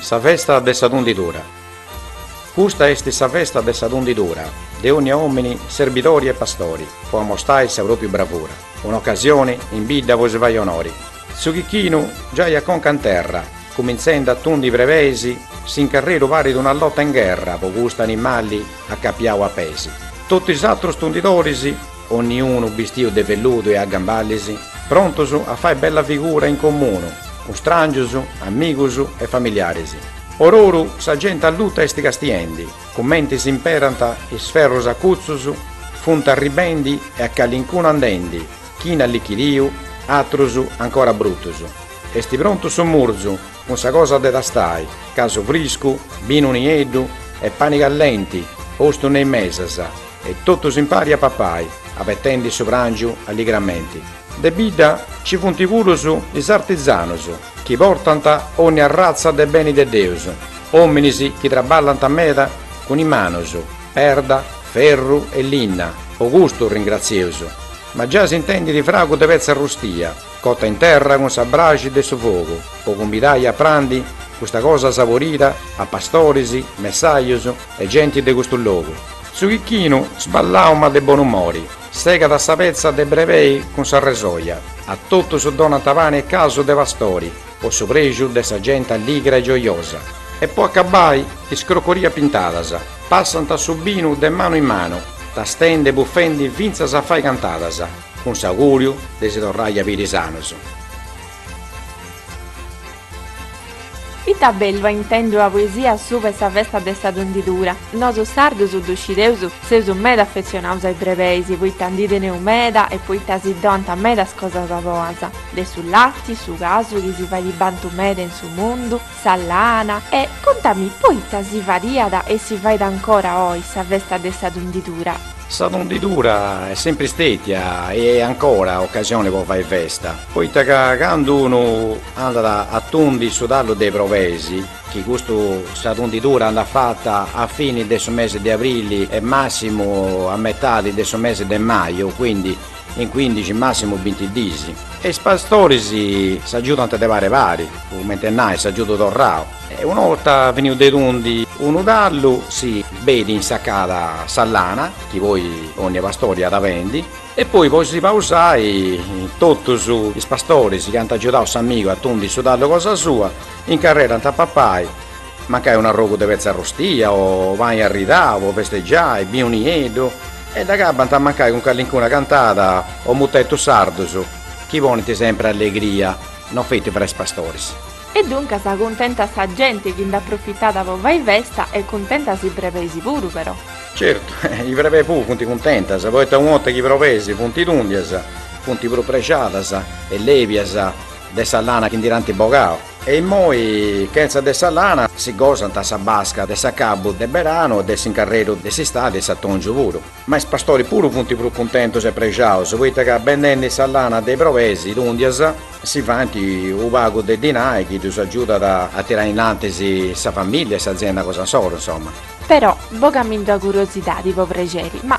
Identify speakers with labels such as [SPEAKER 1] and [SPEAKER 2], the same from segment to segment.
[SPEAKER 1] Sa festa de sa tundidura. Custa est sa festa de sa tundidura, de onnia omini serbidori e pastori, po amostai sa propria bravura, un'occasioni in bidda po si fai onori. Su chicchinu giai a conca in terra, cuminzendi a tundi brebeis, s'incarreru parit una lotta in gherra po custu animali, acapiau a peis, totu is atrus tundidoris, onniunu bistiu de velludu e a gamballis, prontus a fai bella figura in comunu cun strangius, amigus e familiaris. Ororu sa genti alluta est castiendi, cumenti s'imperant is ferrus acutzus, funt arribendi e a calincunu andendi, chini allichidiu, atrus ancora brutus. Est prontu su murzu! Cun sa cosa de tastai, casu friscu, binu nieddu e pani callenti postu in is mesas e totus impari a papai, abetendi su prangiu alligramenti. De bidda ci funti puru is artizanus, chi portant onni arratza de beni de Deus, ominis chi traballant meda cun is manus, perda, ferru e linna, po custu ringrazieus. Ma già s'intendit fragu de petza arrustia. Cota in terra cun sa braxi de su fogu po cumbidai a prandi custa cosa saborida a pastoris, messajus e genti de custu logu. Su chicchinu, sballau ma de bonu umori, segat sa petza de brebei cun sa resoja, a totus donant pani e casu de pastori po su prexu de sa genti alligra e giojosa e po acabai is crocoria pintadas, passant su binu de manu in manu, tastendi e bufendi fintzas a fai cantadas. Cun s'augùriu de si torrai a biri sanus. Ita
[SPEAKER 2] bellu a intendi ua poesia subra 'e sa festa de sa tundidura. Nosu sardus ddu scideus, seus meda affetzionaus a is brebeis, poita ndi teneus meda e poita si donant medas cosas boas, de su lati, su casu chi si fait bantau meda in su mundu, Sa lana, e contami poita si fadiat e si fait ancora oi sa festa de sa tundidura? Sa tundidura
[SPEAKER 1] est sempri stètia e est ancora ocasione po fai festa, poita ca candu unu andat a tundi su tallu de is brebeis, chi custu sa tundidura andat fata a fini de su mesi de aprili e massimu a metadi de su mesi de maju, quindi, In cuindixi, massimu binti dis. E is pastoris s'agiudant de pari pari, cumenti e nai, a agiudu torrau. E una 'orta finiu de tundi unu tallu, si benit insacada sa lana, chi poi onnia pastori at a bendi, e poi po si pausai, totus is pastoris chi ant agiudau s'amigu a tundi su tallu cosa sua, incarrerant a papai, Mancai un arrogu de petza arrustia o pani arridau po festegiai, binu nieddu e dd'acabbant mancai cun callincuna cantada o mutetus sardus chi ponint sempri allegria, no feti fra is pastoris. E duncas
[SPEAKER 2] cuntenta sa genti chi nd'aprofitat po fai festa e cuntentas is brebeis puru però.
[SPEAKER 1] Certu, is brebeis puru funt cuntentas poita una 'orta chi is brobeis funt tundias, funt prus prexadas e lèbias de sa lana chi ndi dd'ant bogau. E immoi chentza de sa lana si gosant sa basca de s'acabbu de beranu e de s'incarreru de s'istadi e s'atòngiu puru. Ma is pastoris puru funt prus cuntentus e prexaus poita ca bendendi sa lana de is brobeis tùndias si faint unu pagu de dinai chi ddus agiudat a tirai innantis sa famìllia e s'azienda cosa insoru, insoma. Però
[SPEAKER 2] bogamindi una curiosidadi po prexeri, ma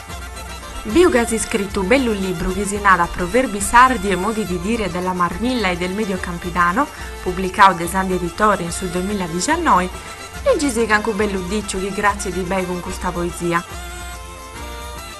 [SPEAKER 2] Biu ca as iscritu u bellu libru chi si narat Proverbi sardi e modi di dire della Marmilla e del Medio Campidano, publicau de Sandhi Editore in su duemiladiciannoi, legisì cancu bellu diciu chi cratzit beni cun custa poesia.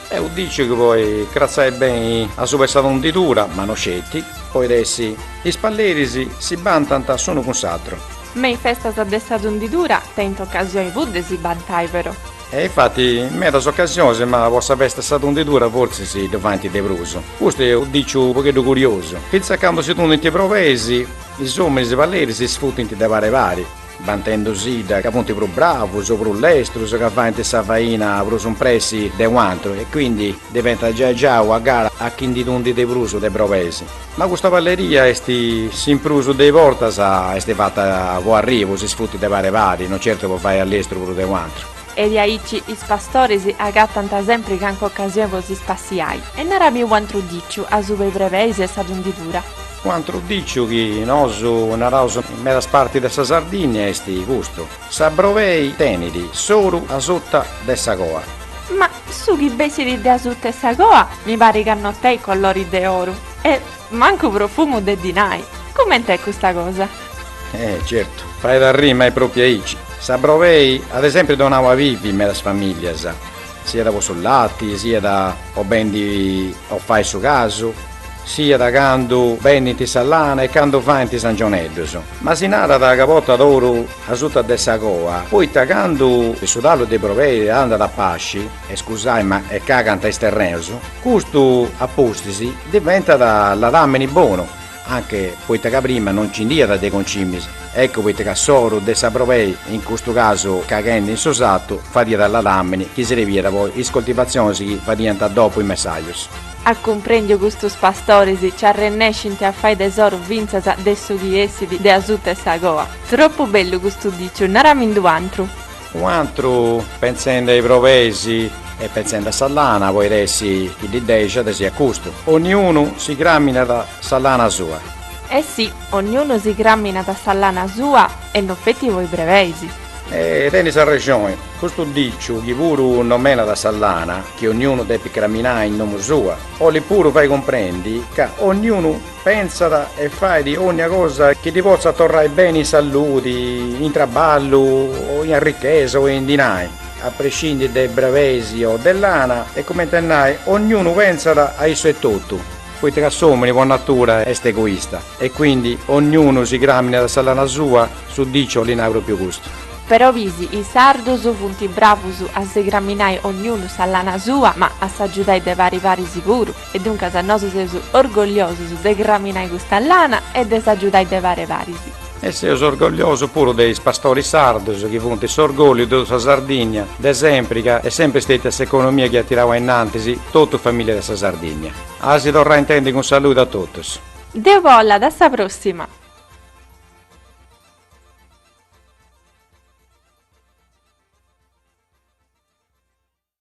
[SPEAKER 1] Eh, u diciu chi podit cratzai beni asuba 'e sa tundidura, ma no sceti, poid'essi, is palleris si bantant s'unu cun s'atru. Ma is festas
[SPEAKER 2] de sa tundidura tenint ocasioni puru de si bantai, però. E
[SPEAKER 1] infati in medas ocasionis, ma po sa festa 'e sa tundidura fortzis ddu faint de prus. Custu est unu diciu u pogheddu curiosu. Fintzas candu si tundint brobeis, is ominis palleris si sfutint de pari pari, bantendusidda ca funt prus bravus o prus lestrus, ca faint sa faina prus in pressi de u' antru e quindi diventat giai giai una gara a chi ndi tundit de prus de brobeis. Ma custa palleria est s'in prus de is bortas est fata po arrisu, si sfutit de pari pari, no certu po fai a lestru prus de u antru. E diaici
[SPEAKER 2] is pastoris agatant sempri cancu ocasioni po si spassiai. E narami u antru diciu, asuba 'e is brebeis e sa tundidura. U antru
[SPEAKER 1] diciu chi nosu naraus in medas partis de sa Sardinnia est custu, sa brobei tenit s'oru asuta de sa coa. Ma
[SPEAKER 2] Su chi bessit de asuta 'e sa coa mi parit ca no tenit colori de oru e mancu profumu de dinai. Cument'est custa cosa? Eh, certu,
[SPEAKER 1] fait arrì ma est propiu aici. Sa brobei at sempri donau a bivi medas familias, siat po su lati, siat po bendi o fai su casu, siat candu bendint sa lana e candu faint is angioneddus. Ma si narat ca portat oru. asuta de sa coa, poita candu su tallu de brobeis andat a pasci, e scusai ma e cagant is terreus, custu a pustis diventat ladamini bonu, anche poita ca prima no nci nd'iat de concimis, eccu poita ca s'oru de sa brobei, in custu casu caghendi in su satu, fadiat ladamini chi srebiat po is coltivazionis chi fadiant dopu is messajus. Ah, cumprendiu,
[SPEAKER 2] custus pastoris nci arrennescint a fai tesoru fintzas de su chi essit de asuta 'e sa coa. Troppu bellu custu diciu, nara·mindi un'antru. Un'antru,
[SPEAKER 1] pentzende a is brebeis e pentzende a sa lana podit èssi chi ddi dexat custu, Onniunu si craminat sa lana sua. Eh sì,
[SPEAKER 2] onniunu si craminat sa lana sua e no feti po is brebeis. E
[SPEAKER 1] tenis arrexoni, custu diciu chi puru nòmenat sa lana, chi onniunu depit craminai in domu sua, olit puru fai cumprendi ca onniunu. Pensat e fait ònnia cosa chi ddi potzat torrai beni in saludi, in traballu o in arrichesa o in dinai, a prescindi de is brebeis o de lana e, comente a nai, ognunu pensat a issu etotu, poita ca s'òmini po natura est egoista e quindi ognunu si cràminat sa lana sua, su diciu olit nai pròpriu custu. Però bisi, is
[SPEAKER 2] sardus funt bravus a si craminai ognunu sa lana sua, ma a s'agiudai de pari paris puru. E duncas nosu seus orgogliosus de craminai custa lana e de s'agiudai de pari paris. E
[SPEAKER 1] seus orgogliosus puru de is pastoris sardus chi funt s'orgòlliu de totu sa Sardìnnia, de sempri ca est sempri stètia s'economia chi at tirau a innantis totu famìlia de sa Sardìnnia.
[SPEAKER 2] A
[SPEAKER 1] si torrai
[SPEAKER 2] intendi
[SPEAKER 1] cun saludu a totus.
[SPEAKER 2] Deu bolla,
[SPEAKER 1] a
[SPEAKER 2] sa pròssima!